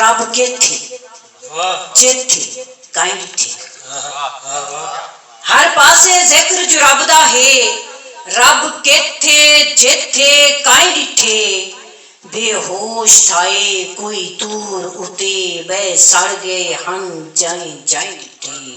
رب کیتھی جیتھی کائیں ڈٹھی۔ ہر پاسے ذکر جو رب دا ہے۔ رب کیتھے جیتھے کائیں ڈٹھے۔ بے ہوش تھائے کوئی طور اتے بئے سڑ گئے ہن جائیں جائیں ڈٹھے۔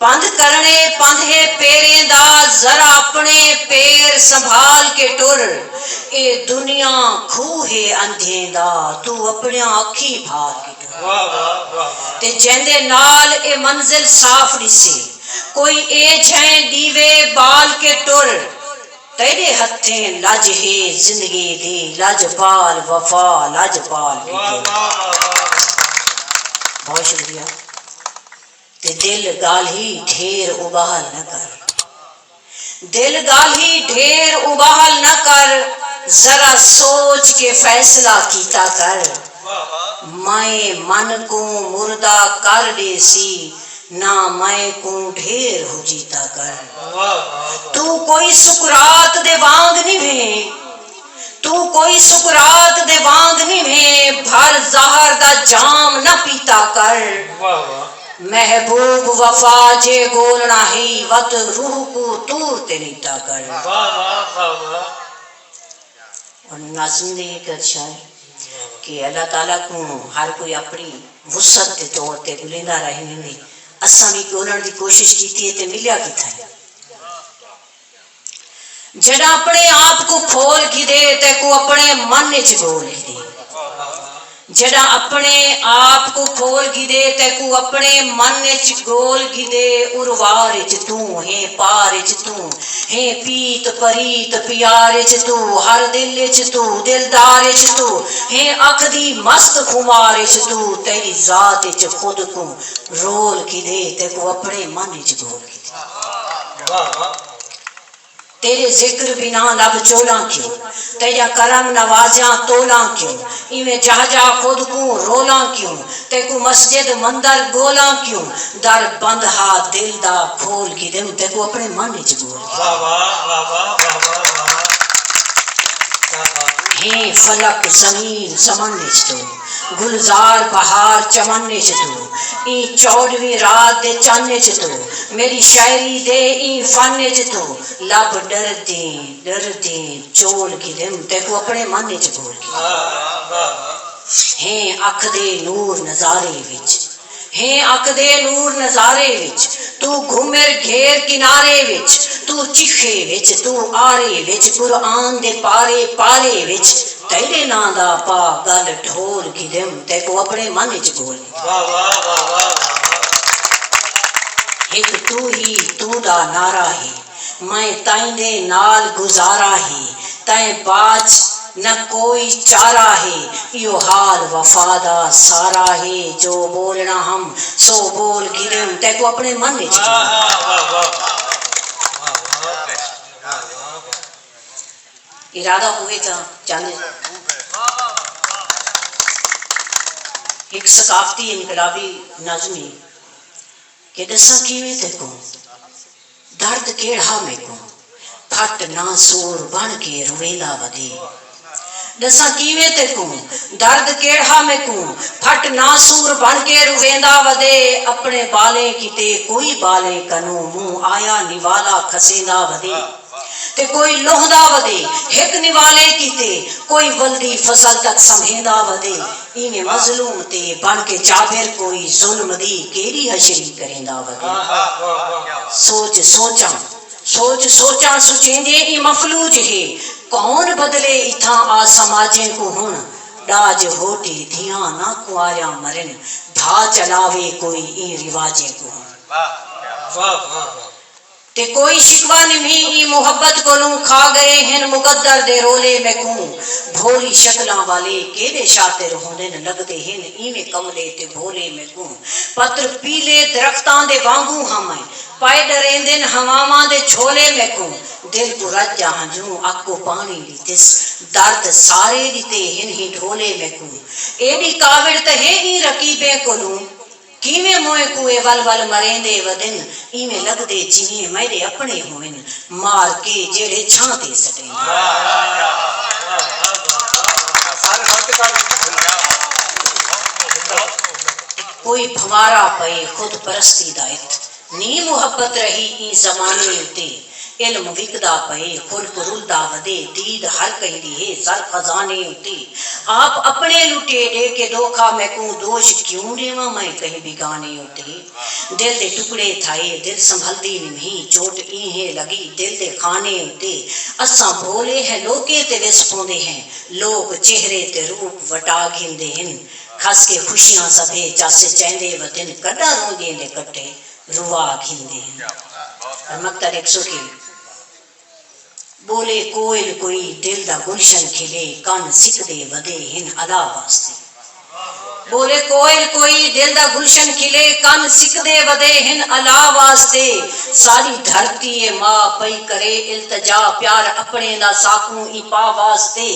پندھ کرݨے پندھے پیریں دا ذرا اپݨے پیر سنبھال کے ٹر اے دنیا کھوہ ہے اندھیں دا توں اپݨیاں اکھیں بھال کے ٹر تے جیندے نال اے منزل صاف ݙسے کوئی اے جھئیں ݙیوے ٻال کے ٹر تیݙے ہتھیں لڄ ہے زندگی دی لڄ پال وفا لڄ پال کے ٹر بہت شکریہ۔ تے دل ڳالھی ڈھیر اباہل نہ کر دل ڳالھی ڈھیر اباہل نہ کر ذرا سوچ کے فیصلہ کیتا کر مئیں من کوں مردہ کر ڈیسی نہ مئیں کوں ڈھیر ہجیتا کر توں کوئی سقراط دے وانگ نی بھیں توں کوئی سقراط دے وانگ نیویں بھر زہر دا جام نہ پیتا کر۔ محبوب وفا جے ڳولݨا ہئی وت روح کوں طور تے نیتا کر۔ ہݨ ناظم دی ہک ادشاہ ہے کہ اللہ تعالی کوں ہر کوئی اپݨی وسعت دے طور تے ڳلیندا رہ ویندے۔ اساں وی ڳولݨ دی کوشش کیتی ہے تے ملیا کتھائیں۔ جڈاں اپنڑے آپ کوں کھول گھدے تے کوں اپنڑے من اچ گھول گھدے جڈاں اپنڑے آپ کوں کھول گھدے تے کوں اپنڑے من اچ گھول گھدے اروار اچ توں ہیں پار اچ توں ہیں پیت پریت پیار اچ توں ہر دل اچ توں دلدار اچ توں ہیں اکھ دی مست خمار اچ توں تیڈی ذات اچ خود کوں رول گھدے تے کوں اپنڑے من اچ گھول گھدے۔ تیݙے ذکر بنا لب چولاں کیوں تیݙا کرم نوازیاں تولاں کیوں ایویں جاہ جاہ خود کوں رولاں کیوں تیکوں مسجد مندر ڳولاں کیوں در بند ہا دل دا کھول گھدیم تیکوں اپݨے من اچ ڳول گھدیم ہیں فلک زمین سمݨ اچ توں گلزار بہار چمن اچ توں ایں چوݙویں رات دے چن اچ توں میݙی شاعری دے ایں فن اچ توں لب ݙردیں ݙردیں چول گھدم تیکوں اپݨے من اچ گھور گھدم ہیں اکھ دے نور نظارے وچ۔ ہیں اکھدے نور نظارے وچ توں گھمر گھیر کنارے وچ توں چکھے وچ توں آرے وچ قرآن دے پارے پارے وچ تیڈے ناں دا پا گل ڈھول گھدم تیکوں اپنے من اچ گھول گھدم ہک توں ہی توں دا نعرہ ہے۔ میں تیندے نال گزارا ہے تیں باچ نہ کوئی چارا ہے ایہو حال وفا دا سارا ہے جو بولنا ہم سو بول گھدیم تیکوں اپنے من اچ ارادہ ہووے تاں چاندے ہک ثقافتی انقلابی نظم ہی کہ ڈساں کیویں تیکوں۔ درد کیڑھا میکوں کھٹ نہ سور بݨ کے رویندا ودے ݙساں کیویں تیکوں درد کیڑھا میکوں کھٹ نہ سور بݨ کے رویندا ودے اپݨے ٻالیں کیتے کوئی ٻالیں کنوں مونہہ آیا نوالا کھسیندا ودے تے کوئی لہندا ودے ہک نوالے کیتے کوئی ولدی فصل تک سنبھیندا ودے۔ ایویں مظلوم تے بݨ کے جابر کوئی ظلم دی کیڑھی حشری کریندا ودے۔ سوچ سوچاں سوچ سوچاں سچیندے ایں مفلوج ہے کون بدلے اتھاں آ سماجیں کوں ہݨ ݙاج ہوٹی دھیاں نہ کنواریاں مرن دھا چلاوے کوئی ایں رواجیں کوں ہݨ۔ تے کوئی شکوہ نمھی ایں محبت کولوں کھا گئے ہن مقدر دے رولے میکوں بھولی شکلاں والے کیڈے شاطر ہوندن لگدے ہن ایویں کملے تے بھولے میکوں پتر پیلے درختاں دے وانگوں ہم ائیں پائے ڈریندن ہواواں دے جھولے میکوں دل کوں رج آ ہنجوں اکو پانی دی تس درد سارے ڈتے ہن ہی ڈھولے میکوں ایڈی کاوڑ تہے ایں رقیبیں کولوں کیویں موئیں کوں اے ول ول مریندے ودن ایویں لگدے جیویں میڈے اپنڑے ہوون مار کے جیڑھے چھاں تے سٹیندن۔ کوئی پھنوارا پئے خود پرستی دا ات۔ نی محبت رہی ایں زمانے اتے علم وکدا پئے خلق رلدا ودے دید ہر کہیں دی ہے زر خزانے اتے آپ اپنے لٹے ڈے کے دوکھا میکوں دوش کیوں ڈیواں میں کہیں بیگانے اتے دل دے ٹکڑے تھئے دل سنبھلدی نمہیں چوٹ اینہہ لگی دل دے خانے اتے اساں بھولے ہیں لوکیں تے وس پوندے ہیں لوک چہرے تے روپ وٹا گھندے ہن کھس کے خوشیاں سبھے چس چیندے وتن کڈاں روندیں دے کٹے روا گھندے ہن رمکتر ہک سو کل بولے کوئل کوئی دل دا گلشن کھلے کن سکدے ودے ہن الا واسطے بولے کوئل کوئی دل دا گلشن کھلے کن سکدے ودے ہن الا واسطے ساڈی دھرتی اے ماء پئی کرے التجا پیار اپنڑیں دا ساکوں ایں پا واسطے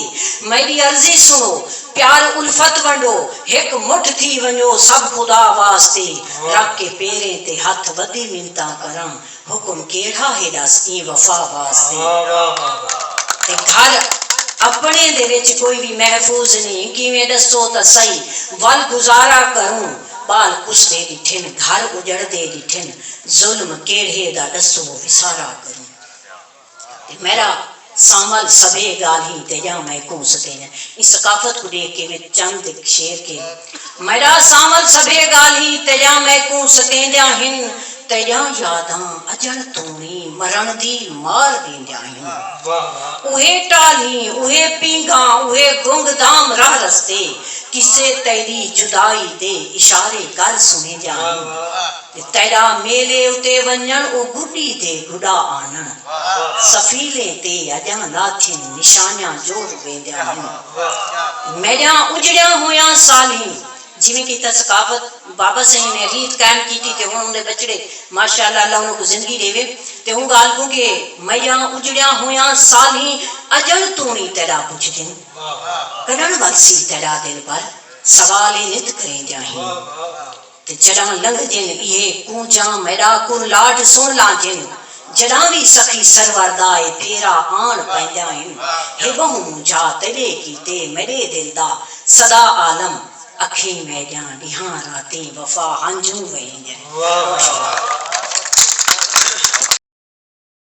میڈی عرضی سنڑو۔ پیار الفت ونڈو ہک مٹھ تھی ونجو سب خدا واسطے رکھ کے پیریں تے ہتھ ودی منتاں کراں حکم کیڑھا ہے ڈس ایں وفا واسطے تے گھر اپنڑیں دے وچ کوئی وی محفوظ نیں کیویں ڈسو تاں سہی ول گزارا کروں بال کسدے ڈٹھن گھر اجڑدے ڈٹھن ظلم کیڑھے دا ڈسو وسارا کروں۔ میرا سانول سبھے گالھیں تیجاں میں کوں سکینہ ایں ثقافت کوں ڈیکھ کے وچ چند ہک شعر کے میرا سانول سبھے گالھیں تیجاں میں کوں سکیندیاں ہن تیجاں یاداں اجڑ توڑی مرن دی مار ڈیندیاں ہن اوہے ٹالھیں اوہے پینگھاں اوہے گنگ دام راہ رستے قصے تیڈی جدائی دے اشارے کر سنیندیاں ہن۔ تیݙا میلے اتے ونڄݨ او ڳݙی تے گݙا آنݨ سفیلیں تے اڄاں لاتھن نشانیاں جو رویندیاں ہن میݙیاں اجڑیاں ہویاں سالھیں جیویں کہ تاں ثقافت بابا سئیں نے ریت قائم کیتی تے ہݨ اوندے ٻچڑے ماشاءاللہ اللہ انہاں کوں زندگی ݙیوے تے اوں ڳالھ کوں کہ میݙیاں اجڑیاں ہویاں سالھیں اڄݨ توں وی تیݙا پچھدن کݙݨ ولسی تیݙا دل پر سوال اے نت کریندیاں ہیں۔ تے جݙاں لنگھدن ایہے کونجاں میݙا کرلاٹ سݨ لاندن جݙاں وی سخی سرور دا اے پھیرا آݨ پیندیاں ہن ہے ٻہوں مونجھا تیݙے کیتے میݙے دل دا سدا عالم اکھیں میݙیاں ݙیہاں راتیں وفا ہنجوں وہیندن۔